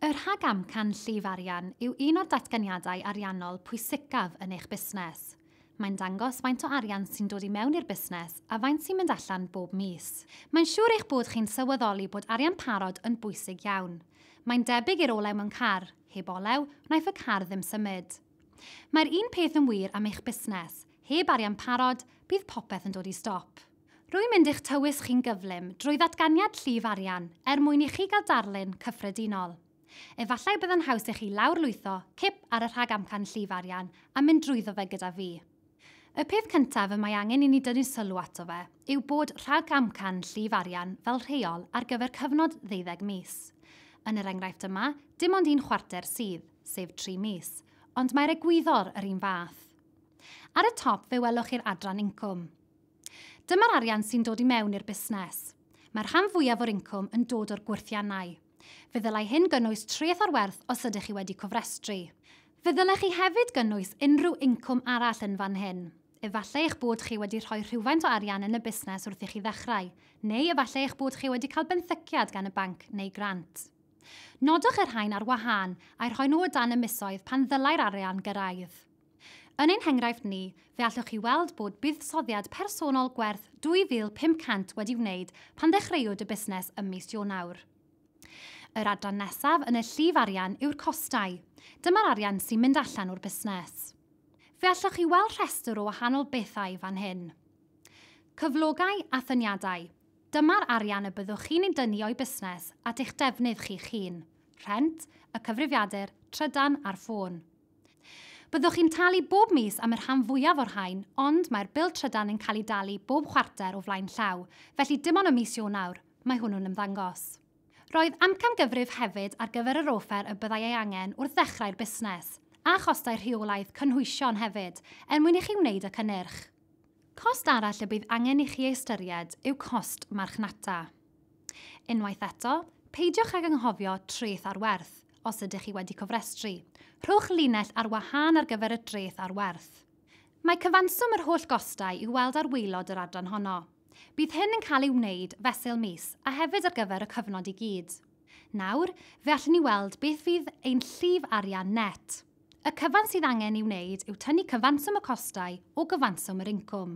Y rhagamcan llif arian yw un o'r datganiadau ariannol pwysicaf yn eich busnes. Mae'n dangos faint o arian sy'n dod i mewn i'r busnes a faint sy'n mynd allan bob mis. Mae'n siŵr eich bod chi'n sylweddoli bod arian parod yn bwysig iawn. Mae'n debyg i'r olew mewn car, heb olew, wnaiff y car ddim symud. Mae'r un peth yn wir am eich busnes, heb arian parod, bydd popeth yn dod i stop. Rwy'n mynd i'ch tywys chi'n gyflym drwy ddatganiad llif arian er mwyn i chi gael darlun cyffredinol. Efallai y byddai'n haws i chi lawrlwytho cip ar y rhagamcan llif arian a mynd drwyddo fe gyda fi. Y peth cyntaf y mae angen i ni dynnu sylw ato fe yw bod rhagamcan llif arian fel rheol ar gyfer cyfnod ddeuddeg mis. Yn yr enghraifft yma, dim ond un chwarter sydd, sef tri mis, ond mae'r egwyddor yr un fath. Ar y top fe welwch chi'r adran incwm. Dyma'r arian sy'n dod i mewn i'r busnes. Mae'r rhan fwyaf o'r incwm yn dod o'r gwyrthiannau. Fe ddylai hyn gynnwys treth o'r werth os ydych chi wedi cofrestru. Fe ddylech chi hefyd gynnwys unrhyw incwm arall yn fan hyn. Efallai eich bod chi wedi rhoi rhywfaint o arian yn y busnes wrth i chi ddechrau, neu efallai eich bod chi wedi cael benthyciad gan y banc neu grant. Nodwch y rhain ar wahân, a'u rhoi nhw o dan y misoedd pan ddylai'r arian gyrraedd. Yn ein henghraifft ni, fe allwch chi weld bod buddsoddiad personol gwerth 2,500 wedi wneud pan ddechreuwyd y busnes ym mis Ionawr. Yr adran nesaf yn y llif arian yw'r costau. Dyma'r arian sy'n mynd allan o'r busnes. Fe allwch chi weld rhestr o wahanol bethau fan hyn. Cyflogau a thyniadau. Dyma'r arian y byddwch chi'n ei dynnu o'i busnes at eich defnydd chi'ch hun, rhent, y cyfrifiadur, trydan a'r ffôn. Byddwch chi'n talu bob mis am y rhan fwyaf o'r rhain, ond mae'r bil trydan yn cael ei dalu bob chwarter o flaen llaw, felly dim ond ym mis Ionawr, mae hwnnw'n ymddangos. Roedd amcangyfrif hefyd ar gyfer yr offer y byddai ei angen wrth ddechrau'r busnes, a chostau rheolaidd cynhwysion hefyd, er mwyn i chi wneud y cynnyrch. Cost arall y bydd angen i chi ei ystyried yw cost marchnata. Unwaith eto, peidiwch ag anghofio treth ar werth. os ydych chi wedi cofrestru. Rhowch linell ar wahân ar gyfer y dreth ar werth. Mae cyfanswm yr holl gostau i'w weld ar waelod yr adran honno. Bydd hyn yn cael ei wneud fesul mis a hefyd ar gyfer y cyfnod i gyd. Nawr, fe allwn ni weld beth fydd ein llif arian net. Y cyfan sydd angen ei wneud yw tynnu cyfanswm y costau o gyfanswm yr incwm.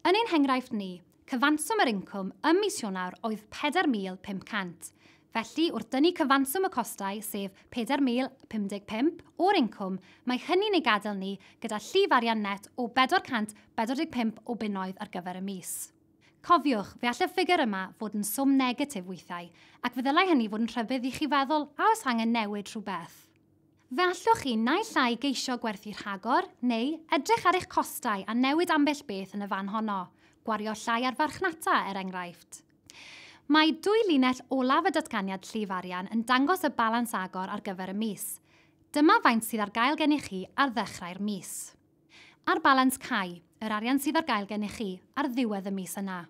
Yn ein henghraifft ni, cyfanswm yr incwm ym mis Ionawr oedd 4,500. Felly, wrth dynnu cyfanswm y costau, sef 4,055, o'r incwm, mae hynny'n ei gadael ni gyda llif arian net o 445 o bunnoedd ar gyfer y mis. Cofiwch, fe all y ffigur yma fod yn swm negatif weithiau, ac fe ddylai hynny fod yn rhybudd i chi feddwl a oes angen newid rhywbeth. Fe allwch chi naill ai geisio gwerthu rhagor neu edrych ar eich costau a newid ambell beth yn y fan honno, gwario llai ar farchnata, er enghraifft. Mae dwy linell olaf y Datganiad Llif Arian yn dangos y balans agor ar gyfer y mis. Dyma faint sydd ar gael gennych chi ar ddechrau'r mis. A'r balans cau, yr arian sydd ar gael gennych chi, ar ddiwedd y mis yna.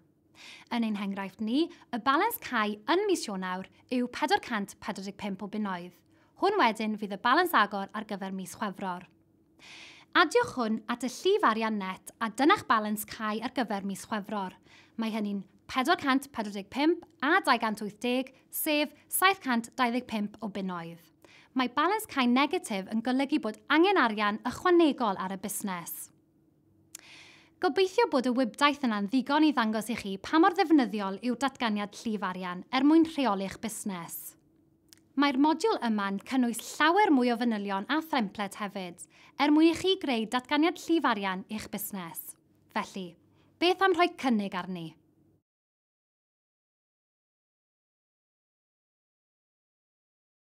Yn ein henghraifft ni, y balans cau yn mis Ionawr yw 445 o bunnoedd. Hwn wedyn fydd y balans agor ar gyfer mis Chwefror. Adiwch hwn at y llif arian net a dyna'ch balans cau ar gyfer mis Chwefror. Mae hynny'n 445 a 280, sef 725 o bunnoedd. Mae balans cau negatif yn golygu bod angen arian ychwanegol ar y busnes. Gobeithio bod y wibdaith yna'n ddigon i ddangos i chi pa mor ddefnyddiol yw'r datganiad llif arian er mwyn rheoli'ch busnes. Mae'r modiwl yma'n cynnwys llawer mwy o fanylion a themplet hefyd, er mwyn i chi greu datganiad llif arian i'ch busnes. Felly, beth am rhoi cynnig arni?